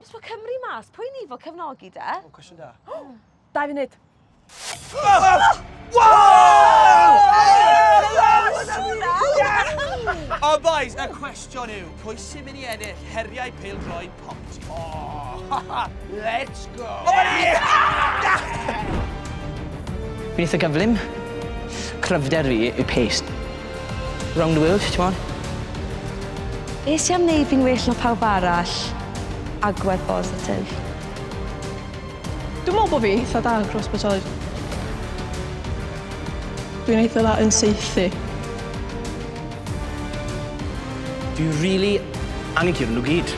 Os fo Cymru mas, pwy ni fo cefnogi de? O, cwestiwn da. Dau funud. O boys, y cwestiwn yw, pwy sy'n mynd i ennill heriau peil droed pont? Oh, let's go! Beth y gyflym? Cryfder fi yw paste. Round the world, t'mod? Nes i am neud fi'n well na pawb arall. Agwedd bositif. Dwi'n meddwl bod fi eitha da yn cross-bwytoi. Dwi'n eitha dda yn saethu. Fi rili angen curo nhw gyd.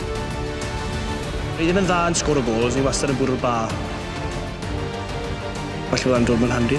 Fi ddim yn dda yn sgoro gols, fi wastad yn bwrw'r bar. Falle bod hwnna'n dod mewn handi.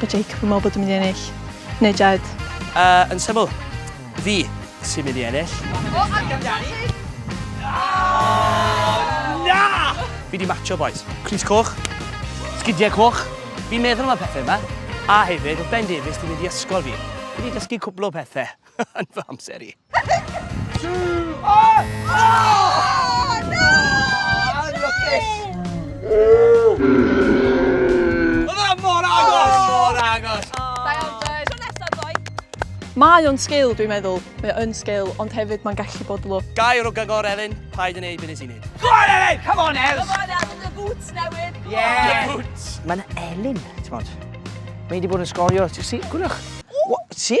Mae Jacob yn meddwl bod yn mynd i ennill, neu Jed? Uh, yn syml, fi sy'n mynd i ennill. O, amdani! Na! Fi di matcho, boys. Cris coch, sgidiau coch. Fi'n meddwl am y pethau yma. A hefyd, oedd Ben Davies di mynd i ysgol fi. Fi di dysgu cwbl o pethau. yn fy amser i. Mae o'n sgil, dwi'n meddwl. Mae o'n sgil, ond hefyd mae'n gallu bod lwc. Gair o gagor, Elin. Paid yn ei byd nes i nid. Go on, Elin! Come on, Els! Come on, Els! Dy boots newydd! Yeah! Dy boots! Mae'n Elin, ti'n bod. Mae wedi bod yn sgorio. Ti'n si? Gwrwch. Si?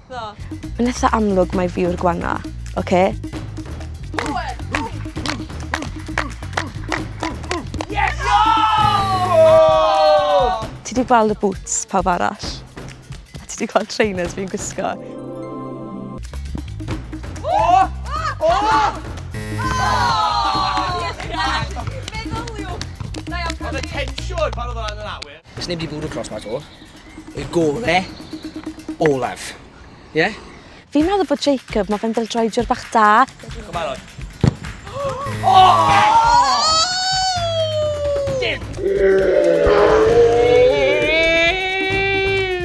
Mae'n eitha amlwg mai fi yw'r gwana, oce? Yes! Ti wedi gweld y boots pawb arall? A ti wedi gweld trainers fi'n gwisgo? Oh! Oh! Oedd y tensiwn pan oedd o'n yn awyr. Does neb wedi bwrw clos ma to. Y gore olaf. Ie? Yeah? Fi'n meddwl bod Jacob, mae fe'n dildroediwr bach da. Diolch yn barod.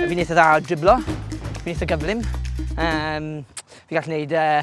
Fi'n eitha dda o driblo. Fi'n eitha gyflym. Um, fi gallu gwneud uh,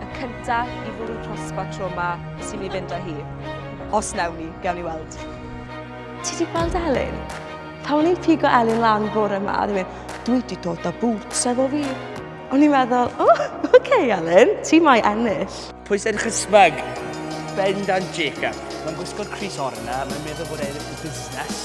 y cyntaf i fwrw crosbar tro ma sy'n ni fynd â hi. Os newn ni, gewn ni weld. Ti di gweld Elin? Pan o'n i'n pigo Elin lan bore yma, oedd yn dwi wedi dod â boots efo fi. O'n i'n meddwl, o, oh, oce okay, Elin, ti mai ennill. Pwy sy'n chysmyg? Bendant Jacob. Mae'n gwisgo'r Chris Orna, mae'n meddwl bod e'n busnes.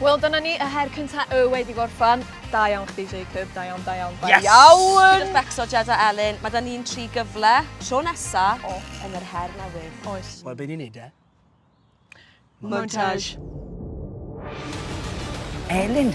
Wel, dyna ni, y her cynta y wedi gorffan. Da iawn chdi, Jacob. Da iawn, da iawn, da yes! iawn! Yes! Becso, Jed a Elin, mae da ni'n tri gyfle, tro nesa, oh. yn yr her newydd. Oes. Wel, be ni'n neud e? Montage. Elin,